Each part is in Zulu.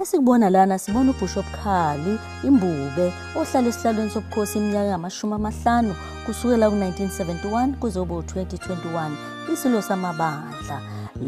Esikubona lana sibona ubhusho obukhali imbube ohlala esihlalweni sobukhosi iminyaka engamashumi amahlanu kusukela ku-1971 kuze kube u-2021 isilo samabandla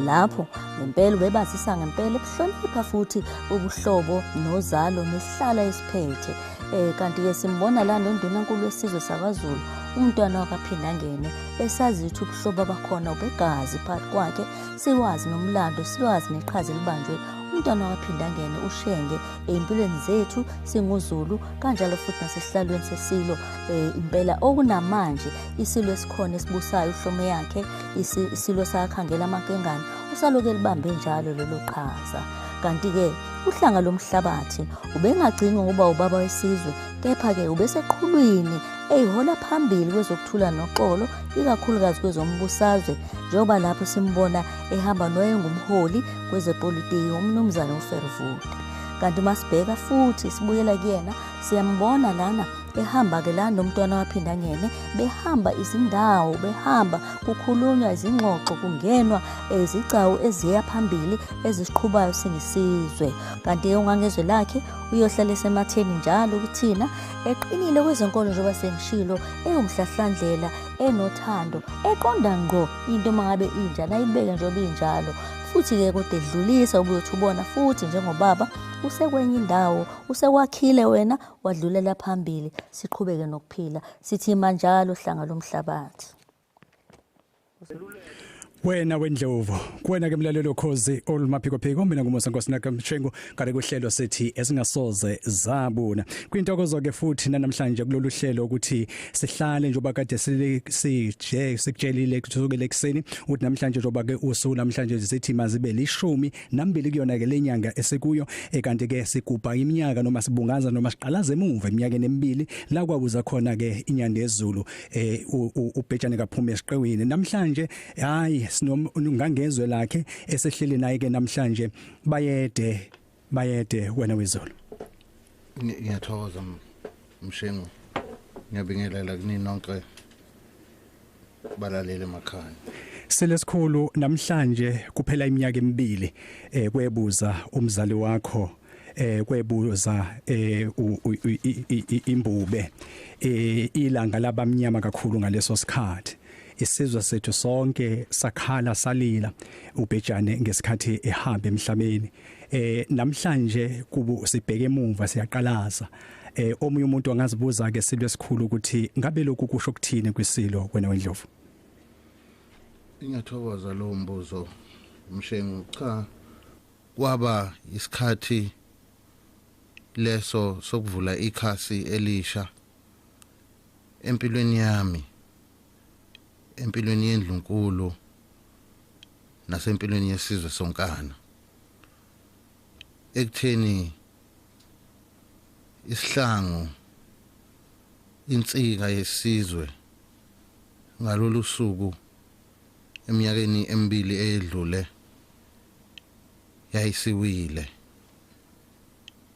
lapho ngempela ubebazisa ngempela ukuhlonipha futhi ubuhlobo nozalo nesihlala esiphethe um kanti-ke simbona la nondunankulu wesizwe sakwazulu umntwana wakaphinda angene esazi ukuthi ubuhlobo abakhona ubegazi phakathi kwakhe siwazi nomlando siwazi neqhaza elibanjwe umntwana waphinda angene ushenge ey'mpilweni zethu singuzulu kanjalo futhi nasesihlalweni sesilo um impela okunamanje isilo esikhona esibusayo uhlome yakhe isilo sakhangela amankengane usaloke libambe njalo lelo qhaza kanti-ke uhlanga lomhlabathi ubengagcini ngokuba ubaba wesizwe kepha-ke ubeseqhulwini eyihola phambili kwezokuthula noxolo ikakhulukazi kwezombusazwe njengoba lapho simbona ehamba noyengumholi kwezepolitiki umnumzane ufervuda kanti uma sibheka futhi sibuyela kuyena siyambona lana behamba ke la nomntwana waphinda ngene behamba izindawo behamba kukhulunywa izingxoxo kungenwa izigcawu eh, eziya phambili ezisiqhubayo singisizwe kanti ke ungangezwe lakhe uyohlala esematheni njalo kuthina eqinile kwezenkolo njengoba sengishilo ewumhlahlandlela enothando eqonda ngqo into uma ngabe injani ayibeke njengoba injalo futhi-ke kodwa edlulisa ubuyothi ubona futhi njengobaba usekwenye indawo usewakhiile wena wadlulela phambili siqhubeke nokuphila sithi manjalo hlanga lomhlabathi wena wendlovu kuwena ke mlalelo khozi olumaphiko phiko mina ngumusa nkosi naka mshengu kare kuhlelo sethi esingasoze zabuna kwintokozo ke futhi namhlanje kulolu hlelo ukuthi sihlale njoba kade sije sikutshelile kusukela ekseni uthi namhlanje njoba ke usuku namhlanje sithi mazibe lishumi nambili kuyona ke lenyanga esikuyo ekanti ke sigubha iminyaka noma sibungaza noma siqalaza emuva eminyakeni emibili la kwakuza khona ke inyanda yezulu eh ubhejane kaphuma esiqewini namhlanje hayi sinongangezwe lakhe esehleli naye ke namhlanje bayede bayede wena wezulu ngiyathokoza mshengu ngiyabingelela kunini nonke balalele emakhaya selesikhulu namhlanje kuphela iminyaka emibili eh kwebuza umzali wakho eh kwebuza eh imbube eh ilanga labamnyama kakhulu ngaleso sikhathi isizwe sethu sonke sakhala salila ubhejane ngesikhathi ehamba emhlabeni eh namhlanje kubu sibheke emuva siyaqalaza eh omunye umuntu angazibuza ke silwe esikhulu ukuthi ngabe lokhu kusho ukuthini kwisilo wena wendlovu Ngiyathokoza lo mbuzo mshengu cha kwaba isikhathi leso sokuvula ikhasi elisha empilweni yami empilweni yendlunkulu nasempilweni yesizwe sonkana ekutheni isihlangu insika yesizwe ngalolu suku eminyakeni emibili eyedlule yayisiwile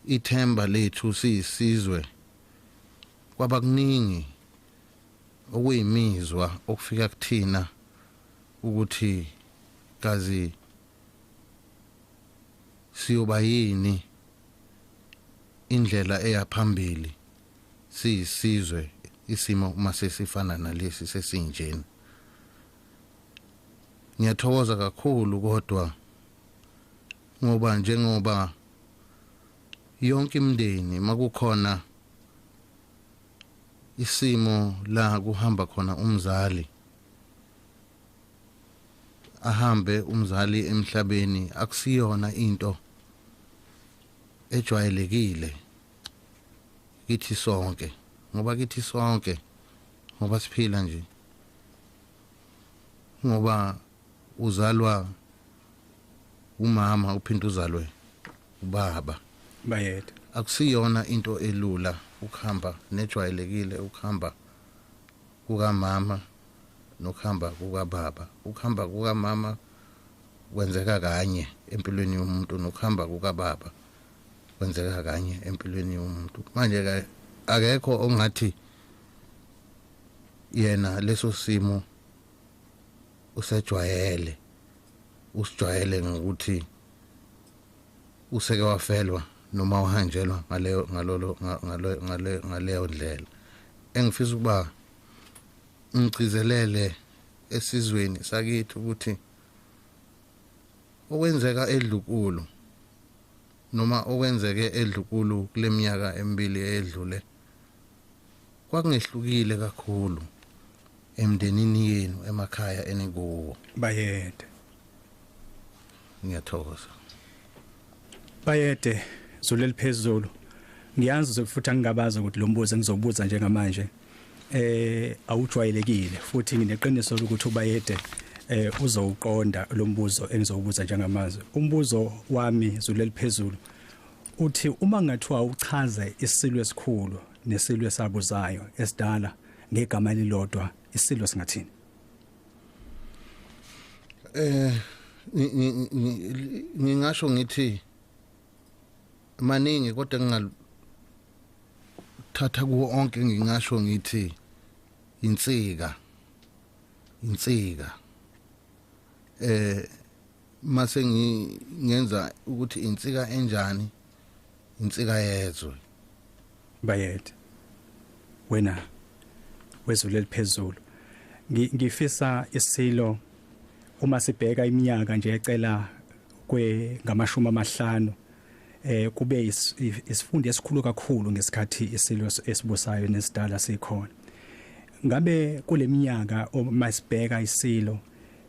ithemba lethu siyisizwe kwaba kuningi okuyimizwa okufika kuthina ukuthi kazi siyoba yini indlela eya phambili siyisizwe isimo uma sesifana nalesi sesinjena ngiyathokoza kakhulu kodwa ngoba njengoba yonke imndeni makukhona isimo la kuhamba khona umzali ahambe umzali emhlabeni akusiyona into ejwayelekile kithi sonke ngoba kithi sonke ngoba siphila nje ngoba uzalwa umama uphinde uzalwe ubaba bayede akusiyona into elula ukuhamba nejwayelekile ukuhamba kukamama nokuhamba kukababa ukuhamba kukamama kwenzeka kanye empilweni yomuntu nokuhamba kukababa kwenzeka kanye empilweni yomuntu manje ke akekho ongathi yena leso simo usejwayele usijwayele ngokuthi useke wafelwa noma uhanjelwa ngaleyo ngalolo ngaleyo ngaleyo ndlela engifisa ukuba ngigcizelele esizweni sakithi ukuthi okwenzeka edlukulu noma okwenzeke edlukulu kuleminyaka emibili edlule kwakungehlukile kakhulu emndenini yenu emakhaya enikuwo bayede ngiyathokoza bayede zuleli phezulu ngiyazi uzokufuthi angingabazi ukuthi lo mbuzo engizobuza njengamanje eh awujwayelekile futhi ngineqiniso lokuthi ubayede eh uzowuqonda lo mbuzo engizowubuza njengamanje umbuzo wami zuleli phezulu uthi uma ngathiwa uchaze isilo esikhulu nesilo esabuzayo esidala ngegama elilodwa isilo singathini eh ngingasho ngithi maningi kodwa ngingathatha kuwo onke ngingasho ngithi insika insika eh mase ngingenza ukuthi insika enjani insika yezwe bayede wena wezulu eliphezulu ngifisa isilo uma sibheka iminyaka nje ecela kwe ngamashumi amahlanu eh kube isifundo esikhulu kakhulu ngesikhathi isilo esibusayo nesidala sikhona ngabe kuleminyaka uma sibheka isilo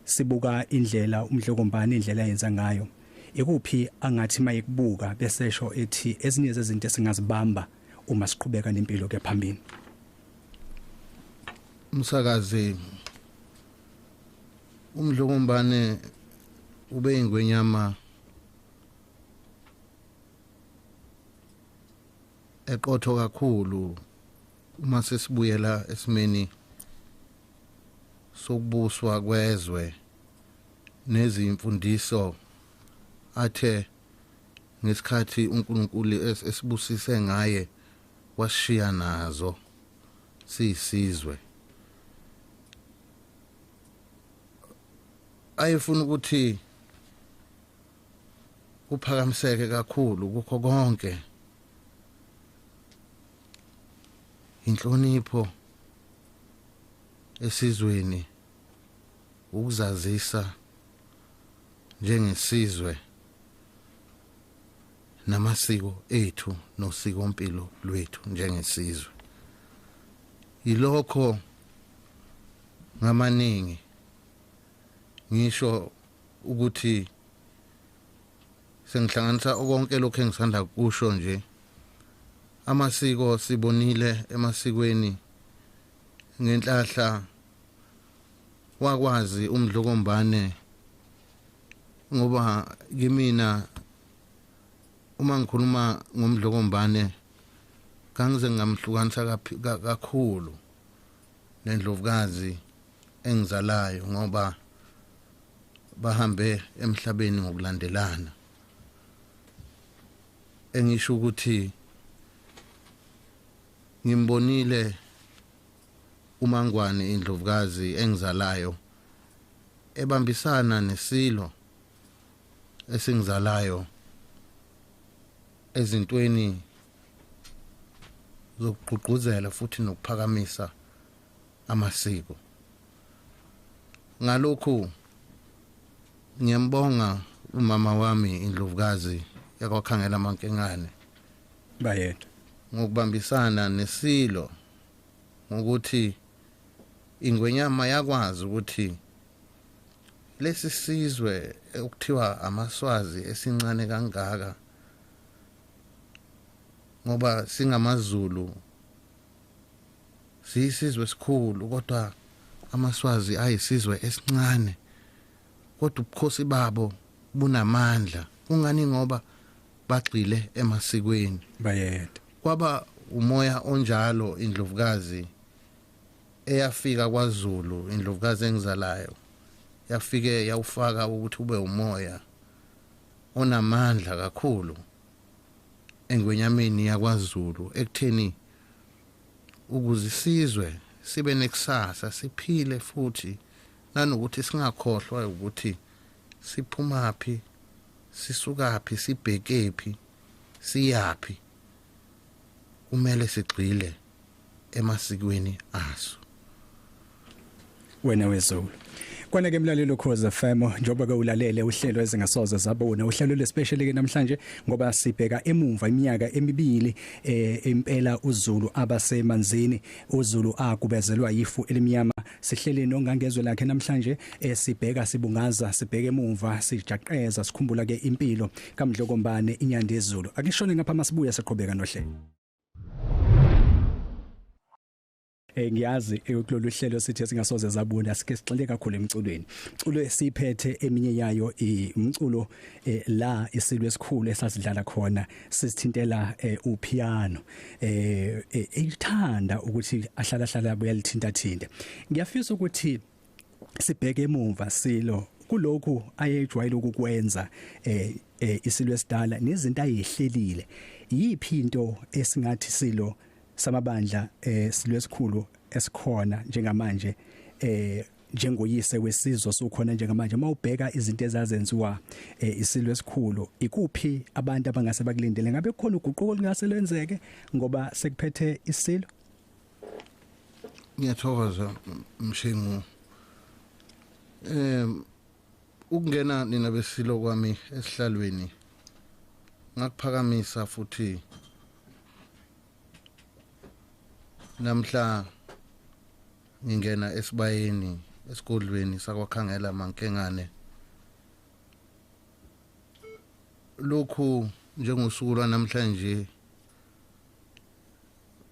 Sibuka indlela uMdlokombane indlela yenza ngayo. Ikuphi angathi mayekubuka besesho ethi ezinye zezinto esingazibamba uma siqhubeka nempilo ke phambili. Msakazi uMdlokombane ube ingwenyama eqotho kakhulu uma sesibuyela esimeni sokubuswa kwezwe nezimfundiso athe ngesikhathi uNkulunkulu esibusise ngaye washiya nazo siyisizwe ayefuna ukuthi kuphakamiseke kakhulu kukho konke inhlonipho esizweni ukuzazisa njengesizwe namasiko ethu nosikompilo lwethu njengesizwe yilokho ngamaningi ngisho ukuthi sengihlanganisa konke lokho engisanda kusho nje amasiko sibonile emasikweni ngenhlahla wakwazi umdlokombane ngoba kimina uma ngikhuluma ngomdlokombane kangize ngamhlukanisa kakhulu nendlovukazi engizalayo ngoba bahambe emhlabeni ngokulandelana engisho ukuthi ngimbonile umangwane indlovukazi engizalayo ebambisana nesilo esingizalayo ezintweni zokugqugquzela futhi nokuphakamisa amasiko ngalokhu ngiyambonga umama wami indlovukazi yakwakhangela amankengane bayethu ngokubambisana nesilo ngokuthi ingwenyama yakwazi ukuthi lesi sizwe okuthiwa amaswazi esincane kangaka ngoba singamazulu Siyisizwe esikhulu kodwa amaswazi ayisizwe esincane kodwa ubukhosi babo bunamandla kungani ngoba bagxile emasikweni bayede kwaba umoya onjalo indlovukazi eyafika kwaZulu indlovukazi engizalayo yafike yawufaka ukuthi ube umoya onamandla kakhulu engwenyameni yakwaZulu ekutheni ukuze isizwe sibe nekusasa siphile futhi nanokuthi singakhohlwa ukuthi siphumaphi sisukaphi sibhekephi siyaphi kumele sigxile emasikweni aso wena wezulu Kwana ke mlalelo Khoza FM njoba ke ulalele uhlelo ezingasoze zabona uhlelo lespecial ke namhlanje ngoba sibheka emumva iminyaka emibili eh impela uZulu abasemanzini uZulu akubezelwa yifu elimnyama sihlele nongangezwe lakhe namhlanje eh, sibheka sibungaza sibheke emumva sijaqeza sikhumbula ke impilo kaMdlokombane inyandezulu akishone ngapha masibuya siqhubeka nohlelo eh ngiyazi eh, kulolu hlelo sithi singasoze zabona sike sixele kakhulu emculweni culo esiphethe eminye yayo umculo eh, la isilwe esikhulu esasidlala khona sisithintela eh, upiano eh elithanda ukuthi ahlala hlala buyalithinta thinta ngiyafisa ukuthi sibheke emuva silo kulokhu ayejwayele ukukwenza eh, eh isilo esidala nezinto ayehlelile yiphi into esingathi silo samabandla eh silo esikhulu esikhona njengamanje eh njengoyise wesizwe sokhona njengamanje uma ubheka izinto ezazenziwa eh, isilwe esikhulu ikuphi abantu abangase bakulindele ngabe khona uguquko lingase lenzeke ngoba sekuphethe isilo ngiyathokoza mshingu em ukungena nina besilo kwami esihlalweni ngakuphakamisa futhi namhla ngingena esibayeni esigodlweni sakwakhangela mankengane lokhu njengosuku lwanamhlanje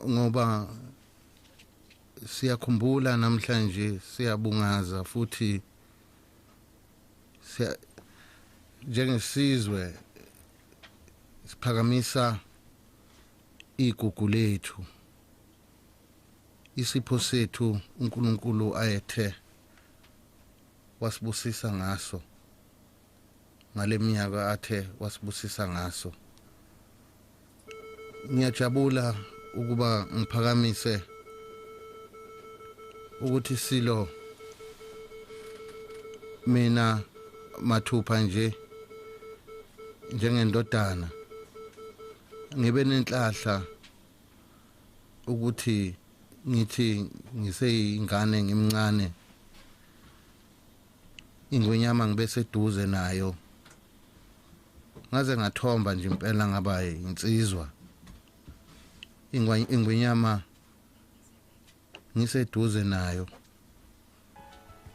ngoba siyakhumbula namhlanje siyabungaza futhi siya njengesizwe siphakamisa igugu lethu isipho sethu uNkulunkulu ayethe wasibusisa ngaso ngaleminyaka athe wasibusisa ngaso ngiyajabula ukuba ngiphakamise ukuthi silo mina mathupha nje njengendodana ngibe nenhlahla ukuthi ngithi ngiseyingane ngimncane ingwenyama ngibe seduze nayo ngaze ngathomba nje impela ngaba insizwa ingwenyama ngiseduze nayo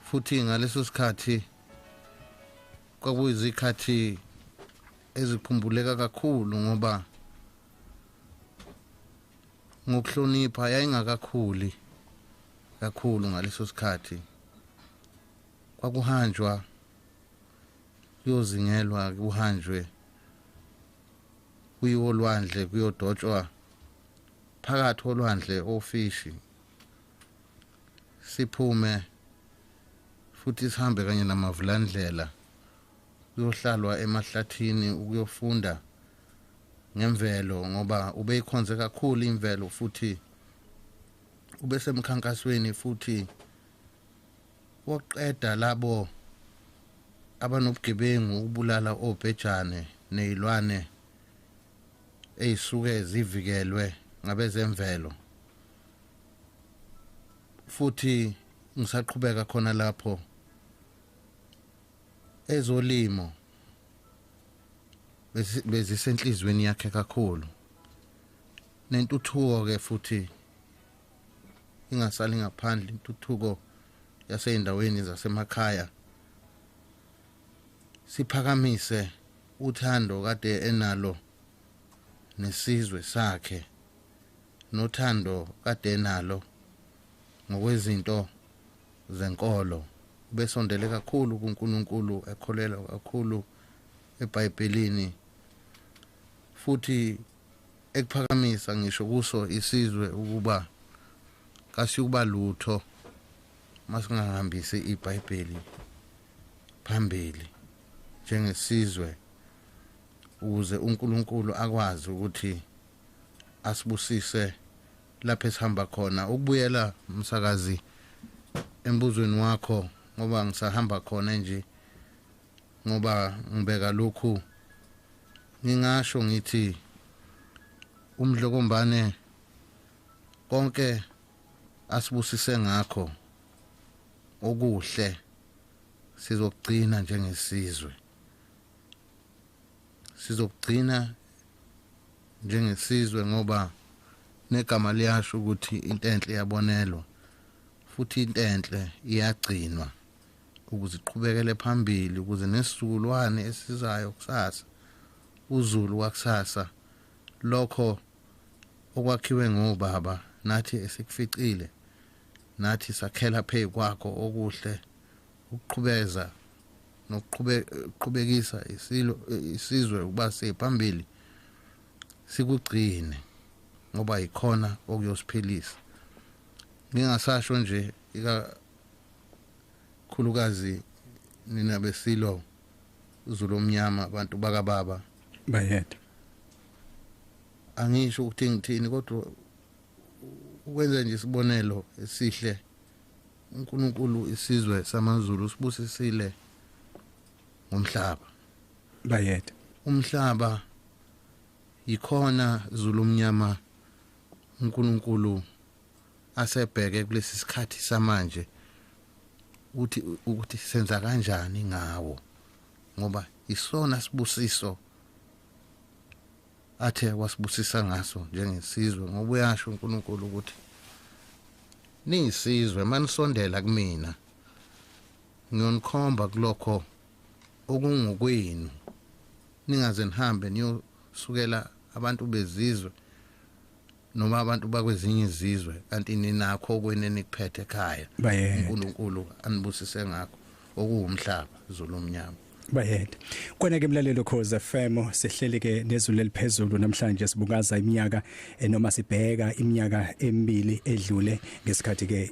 futhi ngaleso sikhathi kwakuyizikhathi ezikhumbuleka kakhulu ngoba ngokuhlonipha yayingakakhuli kakhulu ngaleso sikhathi kwakuhanjwa kuyozingelwa kuhanjwe kuyiwo olwandle kuyodotshwa phakathi olwandle ofishi siphume futhi sihambe kanye namavulandlela kuyohlalwa emahlathini ukuyofunda ngemvelo ngoba ubeyikhonze kakhulu imvelo futhi ubesemkhankasweni futhi wokuqeda labo abanobugebengu ukubulala obhejane nezilwane ezisuke zivikelwe ngabezemvelo futhi ngisaqhubeka khona lapho ezolimo bezisenhlizweni yakhe kakhulu nentuthuko ke futhi ingasali ngaphandle intuthuko yaseyindaweni zasemakhaya siphakamise uthando kade enalo nesizwe sakhe nothando kade enalo ngokwezinto zenkolo ubesondele kakhulu kuNkulunkulu ekholelwa kakhulu eBhayibhelini futhi ekuphakamisa ngisho kuso isizwe ukuba kasiyukuba lutho masingahambisi iBhayibheli phambili njengesizwe ukuze uNkulunkulu akwazi ukuthi asibusise lapho esihamba khona ukubuyela msakazi embuzweni wakho ngoba ngisahamba khona nje ngoba ngibeka lokhu ngingasho ngithi umdlokombane konke asibusise ngakho okuhle sizokugcina njengesizwe sizokugcina njengesizwe ngoba negama liyasho ukuthi into enhle iyabonelwa futhi into enhle iyagcinwa ukuze iqhubekele phambili ukuze nesizukulwane esizayo kusasa uzulu wakusasa lokho okwakhiwe ngobaba nathi esikuficile nathi sakhela phezu kwakho okuhle ukuqhubeza nokuqhubekisa isilo isizwe ukuba siphambili sikugcine ngoba yikhona okuyosiphilisa ngingasasho nje ikakhulukazi nina besilo uzulu omnyama abantu bakababa bayede angisho ukuthi ngithini kodwa ukwenza nje isibonelo esihle uNkulunkulu isizwe samaZulu usibusisile ngomhlaba bayede umhlaba yikhona Zulu omnyama uNkulunkulu asebheke kulesi sikhathi samanje ukuthi ukuthi senza kanjani ngawo ngoba isona sibusiso athe wasibusisa ngaso njengesizwe ngoba uyasho uNkulunkulu ukuthi niyisizwe manisondela kumina ngiyonikhomba kulokho okungokwenu ningaze nihambe niyosukela abantu bezizwe noma abantu bakwezinye izizwe kanti ninakho kwenu enikuphethe ekhaya uNkulunkulu anibusise ngakho okuwumhlaba zulu omnyama bayede kona ke mlalelo cause FM sihleli ke nezulu eliphezulu namhlanje sibukaza iminyaka eh, noma sibheka iminyaka emibili edlule ngesikhathi ke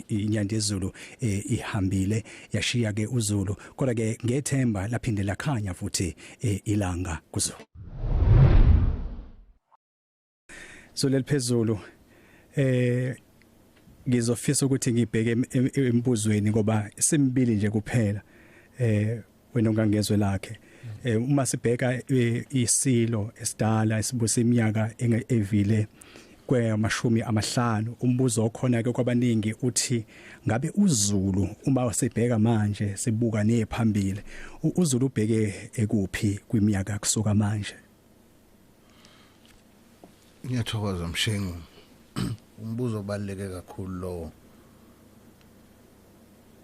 inyanda yezulu eh, ihambile yashiya ke uzulu kodwa ke ngethemba laphinde lakhanya futhi eh, ilanga kuzulu so leliphezulu eh ngizofisa ukuthi ngibheke embuzweni ngoba simbili nje kuphela eh wena ongangezwe lakhe eh uma sibheka eh, isilo esidala esibusa iminyaka evile kwamashumi amahlanu umbuzo okhona ke kwabaningi uthi ngabe uZulu uma usibheka manje sibuka nephambili uZulu ubheke ekuphi kwiminyaka kusuka manje ngiyathokoza mshengu umbuzo obaluleke kakhulu lowo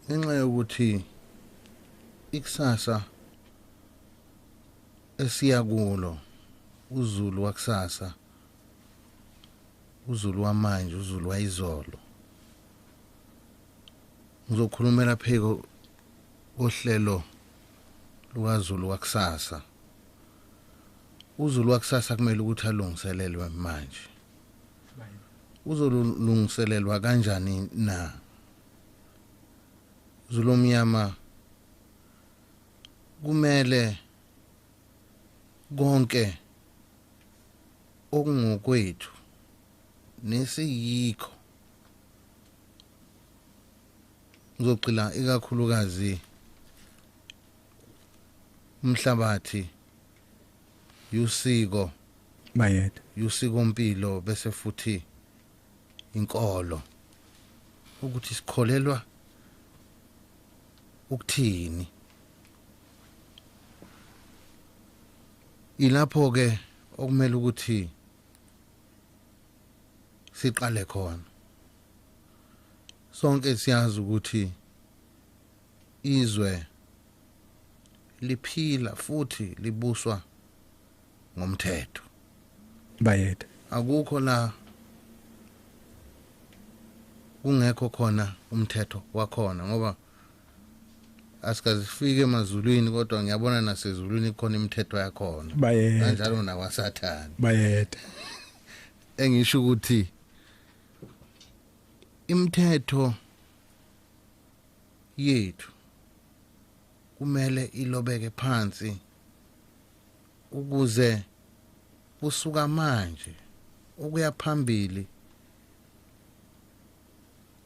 ngenxa yokuthi ikusasa esiya kulo uzulu wakusasa uzulu wamanje uzulu wayizolo ngizokhulumela pheko ohlelo lukazulu wakusasa uzulu wakusasa kumele ukuthi alungiselelwe manje uzolungiselelwa kanjani na zulomnyama kumele konke okungokwethu nesiyikho ngizogcila ikakhulukazi umhlabathi yusiko bayede yusiko mpilo bese futhi inkolo ukuthi sikholelwa ukuthini ilapho ke okumele ukuthi siqale khona sonke siyazi ukuthi Izwe liphila futhi libuswa ngomthetho. Bayede. Akukho la kungekho khona umthetho wakhona ngoba asikazifike emazulwini kodwa ngiyabona nasezulwini kukhona imithetho yakhona bayede kanjalo nakwasathane bayede engisho ukuthi imithetho yethu kumele ilobeke phansi ukuze kusuka manje ukuya phambili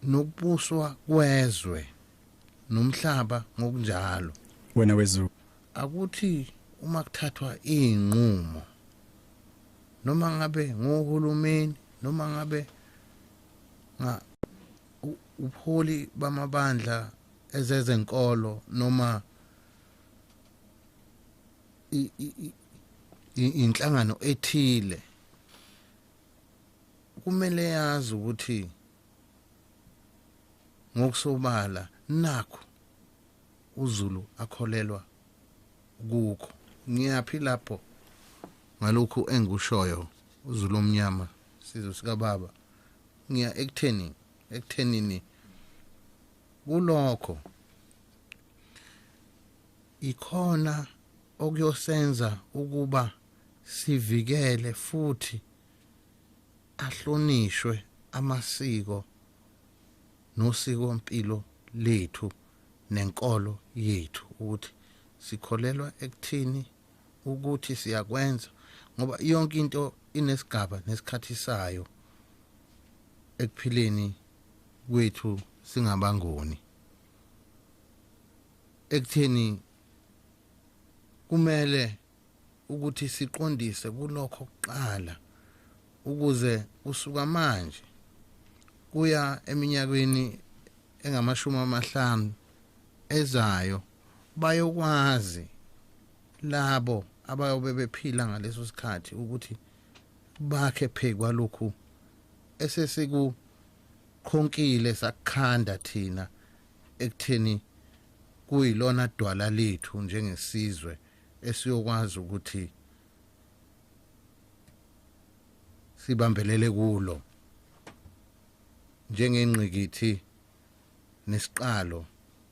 nokubuswa kwezwe nomhlaba ngokunjalo wena wezulu akuthi uma kuthathwa izinqumo noma ngabe ngohulumeni noma ngabe nga Ubuholi bamabandla ezezenkolo noma inhlangano ethile kumele yazi ukuthi ngokusobala nakho uZulu akholelwa kukho ngiyaphi lapho ngalokhu engikushoyo uZulu omnyama sizwe sikababa ngiya ekutheni ekuthenini kulokho ikhona okuyosenza ukuba sivikele futhi ahlonishwe amasiko nosiko mpilo lethu nenkolo yethu ukuthi sikholelwa ekuthini ukuthi siyakwenza ngoba yonke into inesigaba nesikhathi sayo ekuphileni kwethu singabangoni ekutheni kumele ukuthi siqondise kulokho kuqala ukuze kusuka manje kuya eminyakweni engamashumi amahlanu ezayo bayokwazi labo abayobe bephila ngaleso sikhathi ukuthi bakhe phezu kwalokhu esesikukhonqile sakukhanda thina ekutheni kuyilona dwala lethu njengesizwe esiyokwazi ukuthi sibambelele kulo njengengqikithi nesiqalo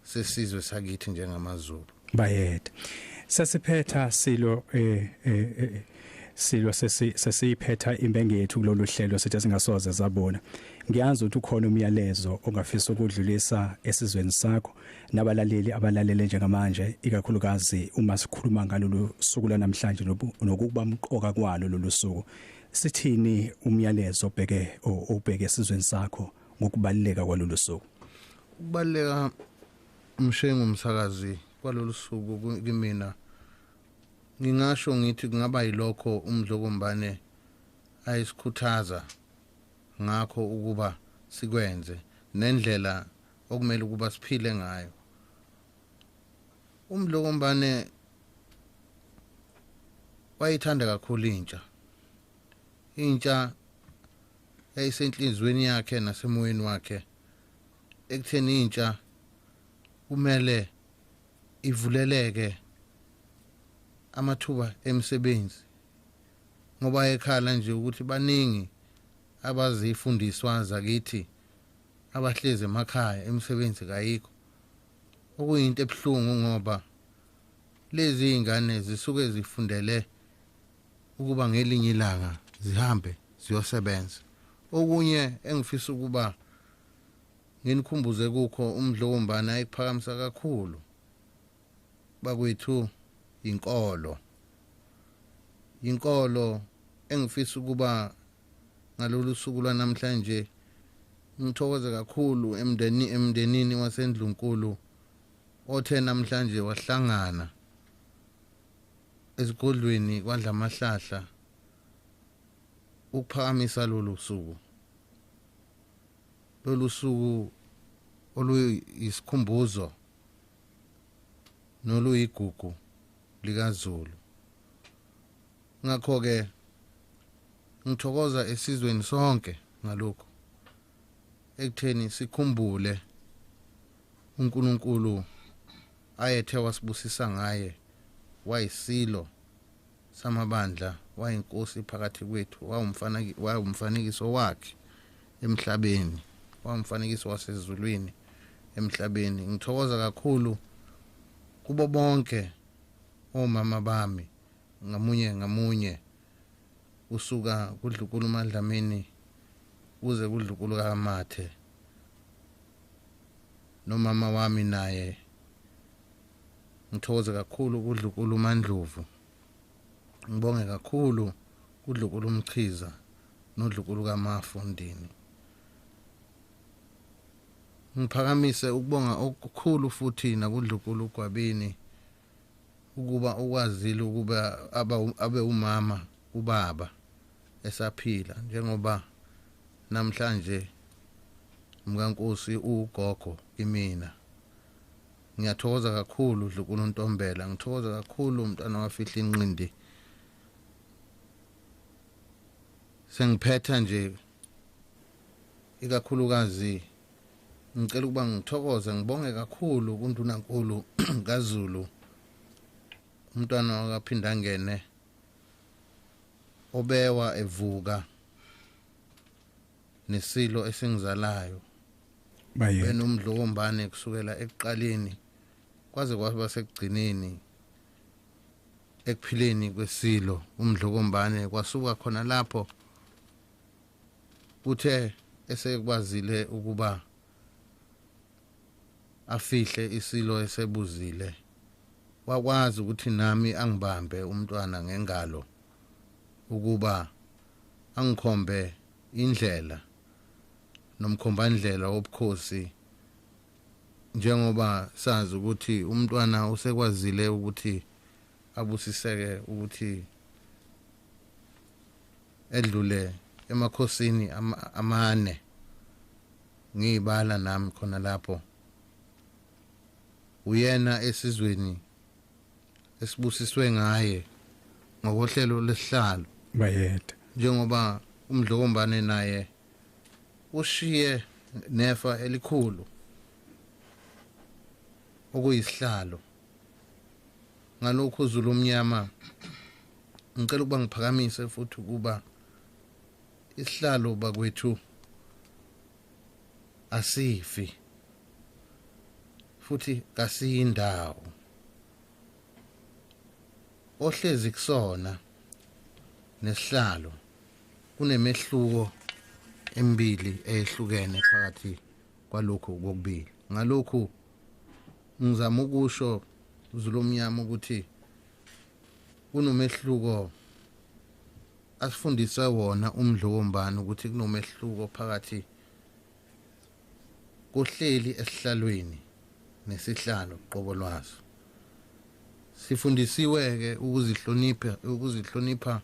sesizwe sakithi njengamaZulu bayede sesiphetha silo eh, eh, eh silo sesiphetha imbengi yethu kulolu hlelo sithi singasoze zabona ngiyazi ukuthi ukhona umyalezo ongafisa ukudlulisa esizweni sakho nabalaleli abalalele njengamanje ikakhulukazi uma sikhuluma ngalolu suku lanamhlanje nokuba mqoka kwalo lolu suku Sithini umyalezo obheke obheke esizweni sakho ngokubaluleka kwalolu suku? Ukubaluleka umshengu umsakazi kwalolu suku kimina ngingasho ngithi kungaba yilokho umdlokombane ayisikhuthaza ngakho ukuba sikwenze nendlela okumele ukuba siphile ngayo umdlokombane wayithanda kakhulu intsha intsha yayisenhlizweni yakhe nasemoyeni wakhe ekutheni intsha kumele ivuleleke amathuba emisebenzi ngoba ekhala nje ukuthi baningi abazifundiswa zakithi abahlezi emakhaya imisebenzi kayikho okuyinto ebuhlungu ngoba lezi ingane zisuke zifundele ukuba ngelinye ilanga zihambe ziyosebenza okunye engifisa ukuba nginikhumbuze kukho umdlo wombana ekuphakamisa kakhulu bakwethu inkolo inkolo engifisa ukuba ngalolu suku lwanamhlanje ngithokoze kakhulu emndeni emndenini wasendlunkulu othe namhlanje wahlangana esigodlweni kwadlamahlahla ukuphakamisa lolu suku lolu suku oluyisikhumbuzo noluyigugu likazulu ngakho-ke ngithokoza esizweni sonke ngalokhu ekutheni sikhumbule uNkulunkulu ayethe wasibusisa ngaye wayisilo samabandla wayinkosi phakathi kwethu wawumfanekiso wakhe emhlabeni wawumfanekiso wasezulwini emhlabeni ngithokoza kakhulu kubo bonke omama bami ngamunye ngamunye kusuka kudlukulu madlamini kuze kudlukulu kamathe nomama wami naye ngithokoze kakhulu kudlukulu mandlovu ngibonge kakhulu kudlukulu umchiza nodlukulu kamafundini ngiphakamise ukubonga okukhulu futhi nakudlukulu ugwabini ukuba ukwazile ukuba abe umama ubaba esaphila njengoba namhlanje mkankosi ugogo kimina ngiyathokoza kakhulu dlukulu ntombela ngithokoza kakhulu umntwana wafihla inqindi sengiphetha nje ikakhulukazi ngicela ukuba ngithokoze ngibonge kakhulu kundunankulu kazulu umntwana wakaphindangene obewa evuka nesilo esingizalayo benomdlo wombane kusukela ekuqaleni kwaze kwaba sekugcineni ekuphileni kwesilo umdlo wombane kwasuka khona lapho Kuthe esekwazile ukuba afihle isilo esebuzile wakwazi ukuthi nami angibambe umntwana ngengalo ukuba angikhombe indlela nomkhombandlela wobukhosi njengoba sazi ukuthi umntwana usekwazile ukuthi abusiseke ukuthi edlule emakhosini amane ngiyibala nami khona lapho uyena esizweni esibusiswe ngaye ngokohlelo lesihlalo bayede njengoba umdlokombane naye ushiye nefa elikhulu okuyisihlalo ngalokhu uzulu omnyama ngicela ukuba ngiphakamise futhi ukuba isihlalo bakwethu asifi futhi kasiyindawo ohlezi kusona nesihlalo kunemehluko emibili eyehlukene phakathi kwalokhu kokubili ngalokhu ngizama ukusho zulomnyama ukuthi kunomehluko asifundise wona umdlo wombani ukuthi kunomehluko phakathi kohleli esihlalweni nesihlalo qobo lwaso sifundisiwe-ke ukuzihlonipha ukuzihlonipha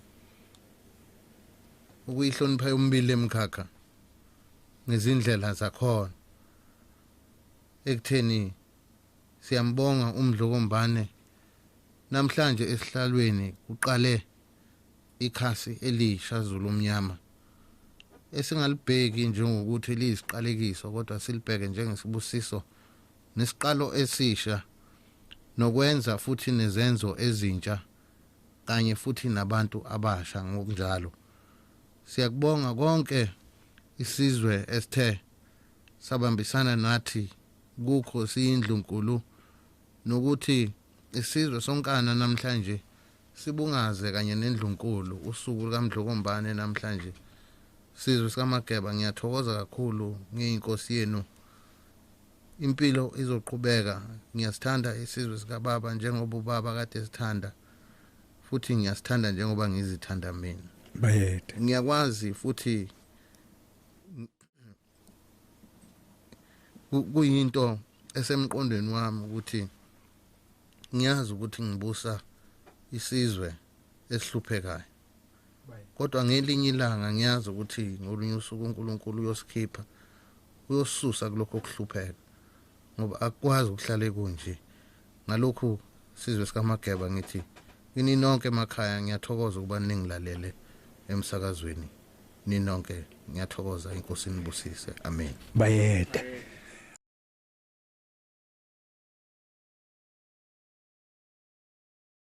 ukuyihlonipha yomibili emikhakha ngezindlela zakhona ekutheni siyambonga umdlokombane namhlanje esihlalweni kuqale ikhasi elisha Zulu omnyama esingalibheki njengokuthi liyisiqalekiso kodwa silibheke njengesibusiso nesiqalo esisha nokwenza futhi nezenzo ezintsha kanye futhi nabantu abasha ngokunjalo siyakubonga konke isizwe esithe sabambisana nathi kukho siyindlunkulu nokuthi isizwe sonkana namhlanje sibungaze kanye nendlunkulu usuku lukamdlokombane namhlanje sizwe sikamageba ngiyathokoza kakhulu ngiyinkosi yenu impilo izoqhubeka ngiyasithanda isizwe sikababa njengoba ubaba kade sithanda futhi ngiyasithanda njengoba ngizithanda mina bayede ngiyakwazi futhi kuyinto esemqondweni wami ukuthi ngiyazi ukuthi ngibusa isizwe esihluphekayo kodwa ngelinye ilanga ngiyazi ukuthi ngolunye usuku uNkulunkulu uyosikhipha uyosusa kulokho kuhlupheka ngoba akwazi ukuhlale kunje ngalokhu sizwe sikamageba ngithi kini nonke emakhaya ngiyathokoza ukuba ningilalele emsakazweni ninonke ngiyathokoza inkosi nibusise amen bayede